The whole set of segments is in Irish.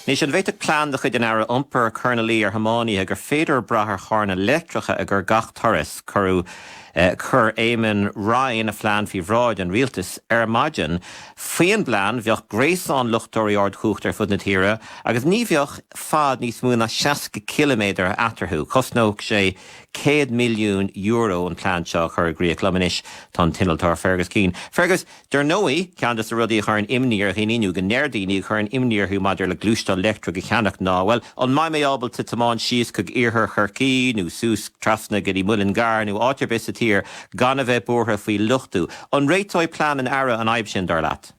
Anois, an bhféadfadh plean de chuid an Aire Iompair cur ina luí ar thiománaithe gur féidir brath ar charranna leictreacha i gcomhair gach turas? Chuir Eamon Ryan a phlean faoi bhráid an Rialtais ar maidin. Faoin bplean, bheadh gréasán luchtóirí ardchumhachta ar fud na tíre agus ní bheadh fad níos mó ná 60 ciliméadar eatarthu. Chosnódh sé €100 milliún an plean seo a chur i gcrích. Liom anois tá an t-innealtóir Fergus Keane. Fergus? Dar ndóigh, ceann de na rudaí a chuireann imní ar dhaoine nó go ndeir daoine a chuireann imní orthu maidir le gluaisteán leictreach a cheannach ná, bhuel, an mbeidh mé ábalta tiomáint síos chuig iarthar Chorcaí nó suas trasna go dtí an Muileann gCearr nó áit ar bith sa tír gan a bheith buartha faoi luchtú? An réiteoidh plean an Aire an fhadhb sin, dar leat?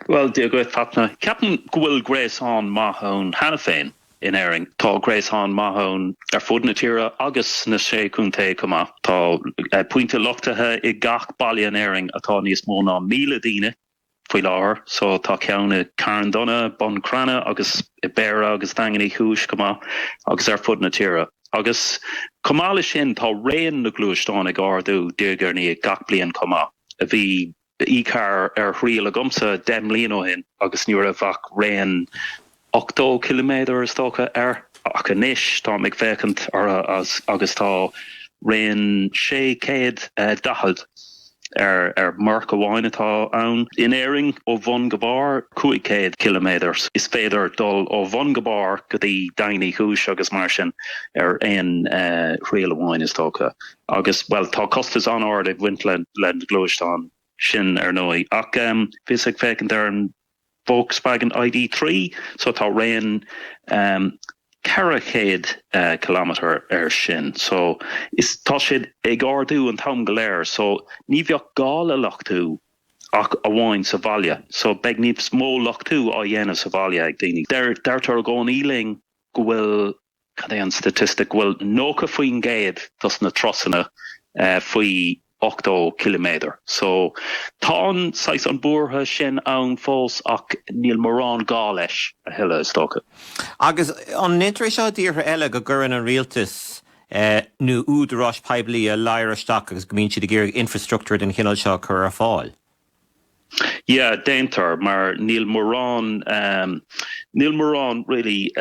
Bhuel, Dia dhuit, Fachtna. Ceapaim go bhfuil gréasán maith ann cheana féin. in Éirinn. Tá gréasán maith ann ar fud na tíre agus sna sé chontae chomh maith. Tá pointe luchtaithe i ngach baile in Éirinn atá níos mó ná míle daoine faoi láthair so tá ceann i Carn Domhnach, Bun Cranncha agus i Béarra agus Daingean Uí Chúis chomh maith agus ar fud na tíre. Agus chomh maith leis sin tá raon na ngluaisteán ag ardú diaidh ar ndiaidh gach bliain chomh maith. A bhí. Bhí carr ar thriail agamsa deich mbliain ó shin agus ní raibh ach raon 80 ciliméadar, is dócha, air ach anois táim ag féachaint orthu agus tá raon 640 ar marc amháin atá ann, in Éirinn ó bhun go barr, 500 ciliméadar. Is féidir dul ó bhun go barr go dtí Daingean Uí Chúis agus mar sin ar aon thriail amháin, is dócha. Agus, bhuel, tá costas an-ard ag baint leis na gluaisteáin sin, ar ndóigh. Ach bhíos ag féachaint ar an Volkswagen ID.3 so tá raon 400 kilometre air sin so tá siad ag ardú an t-am go léir so ní bheadh gá le luchtú ach amháin sa bhaile so beidh níos mó luchtú á dhéanamh sa bhaile ag daoine. Deirtear i gcónaí linn go bhfuil cad é an staitistic? Bhuel, 90% dos na turasanna faoi 80 km. So, tá an saghas an buartha sin ann fós ach níl mórán gá leis a thuilleadh is dócha. Agus an ndeintear é seo i dtíortha eile, go gcuireann an rialtas nó údaráis poiblí a ladhar isteach agus go mbíonn siad ag iarraidh infreastruchtúr den chineal seo a chur ar fáil? Yeah, déantar, mar níl mórán, níl mórán really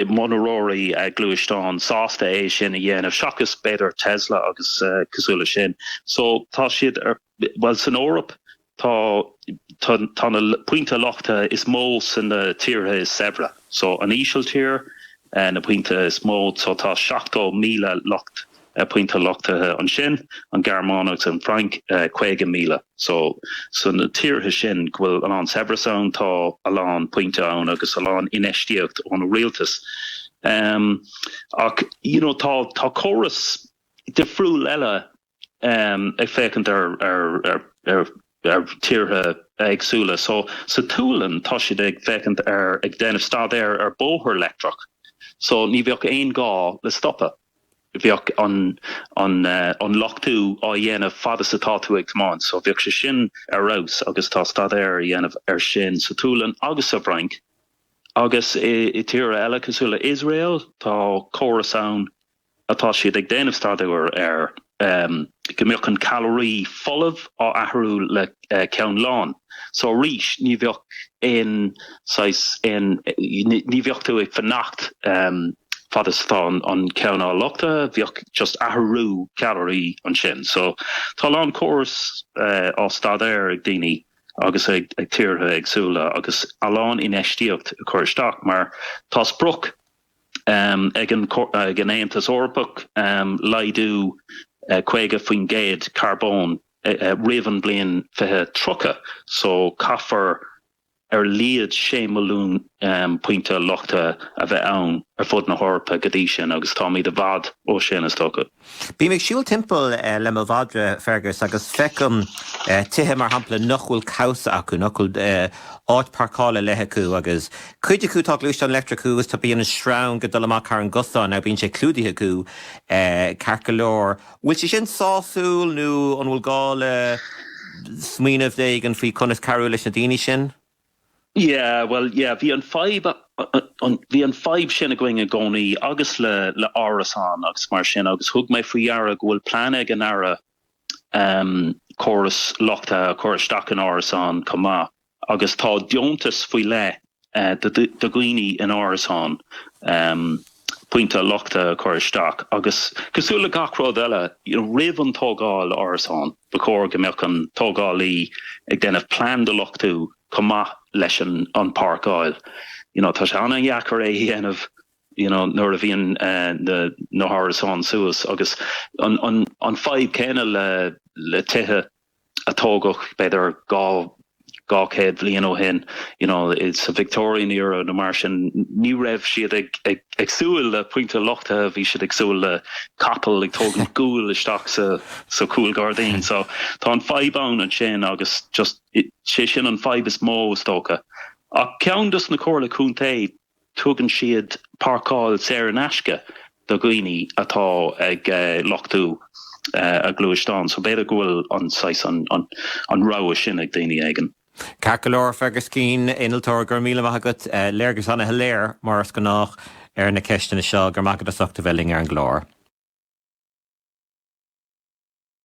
monaróirí gluaisteán sásta é sin a dhéanamh, seachas b'fhéidir Tesla agus cosúil le sin. So tá siad, bhuel, san Eoraip tá, tá na pointe luchta is mó san na tíortha is saibhre. So an Ísiltír, na pointe is mó, so tá 70,000 lucht pointe luchtaithe ansin, an Ghearmáin agus an Fhrainc 50,000. So so na tíortha sin go bhfuil a lán saibhreas ann, tá a lán pointe ann agus a lán infheistíocht ón rialtas. Um ach you know tá tá córas difriúil eile um ag féachaint ar ar ar ar ar tíortha éagsúla. So sa tSualainn tá siad ag féachaint ar ag déanamh staidéar ar bóthar leictreach. So ní bheadh aon gá le stopadh. bheadh an luchtú á dhéanamh fad is atá tú ag tiomáint so bheadh sé sin ar fheabhas agus tá staidéar á dhéanamh ar sin sa tSualainn agus sa bhFrainc agus i tíortha eile cosúil le Iosrael tá córas ann atá siad ag déanamh staidéar air. amh go mbeadh an cadhnra folamh á athrú le ceann lán so arís ní bheadh aon saghas aon ní bheadh tú ag fanacht amh fad is atá an ceann á luchtú bheadh just athrú cadhnraí ansin so tá a lán córas á staidéar ag daoine agus ag ag tíortha éagsúla agus a lán infheistíocht á chur isteach mar tá sprioc ag an Aontas Eorpach laghdú 50% carbóin roimh an bhliain 2030 so caithfear ar laghad 6 milliún pointe luchtaithe a bheith ann ar fud na hEorpa go dtí sin agus táimid i bhfad ó sin is dócha. Bím ag siúl timpeall le mo mhadra, Fergus, agus feicim tithe, mar shampla, nach bhfuil cabhsa acu, nach bhfuil áit páirceála ar leith acu, agus cuid acu tá gluaisteán leictreach acu agus bíonn an sreang ag dul amach thar an gcosán ach bíonn sé clúdaithe acu ceart go leor. An bhfuil sé sin sásúil nó an bhfuil gá le smaoineamh éigin faoi chonas cabhrú leis na daoine sin? Yeah, well, yeah, bhí an fadhb, uh, uh, an, bhí an fadhb sin againn i gcónaí agus le, le árasáin agus mar sin agus thug mé faoi deara go bhfuil plean ag an Aire um, córas luchtaithe a chur isteach in árasáin chomh maith agus tá deontas faoi leith uh, do, do dhaoine in árasáin um, pointe luchtaithe a chur isteach agus, cosúil le gach rud eile, roimh an tógáil árasán, ba chóir go mbeadh an tógálaí ag déanamh plean do luchtú chomh maith leis an páirceáil. You know, tá sé an-deacair é a dhéanamh, you know, nuair a bhíonn na hárasáin suas agus an fhadhb céanna le tithe. a tógadh b'fhéidir dhá chéad bliain ó shin you know sa Victorian era nó mar sin ní raibh siad ag ag ag súil le pointe luchtaithe bhí siad ag súil le capall ag tógaint guail isteach sa sa chúlghairdín so tá an fhadhb ann ansin agus just sé sin an fhadhb is mó is dócha ach ceann dos na comhairle contae Tugann siad páirceáil saor in aisce do dhaoine atá ag luchtú a ngluaisteán so b'fhéidir go bhfuil an saghas, an rogha sin ag daoine éigin. Ceart go leor, Fergus Keane, Innealtóir, go raibh míle maith agat. Léargas an-shoiléir, mar is gnách, ar na ceisteanna seo. Go raibh maith agat as ucht a bheith linn ar an gclár.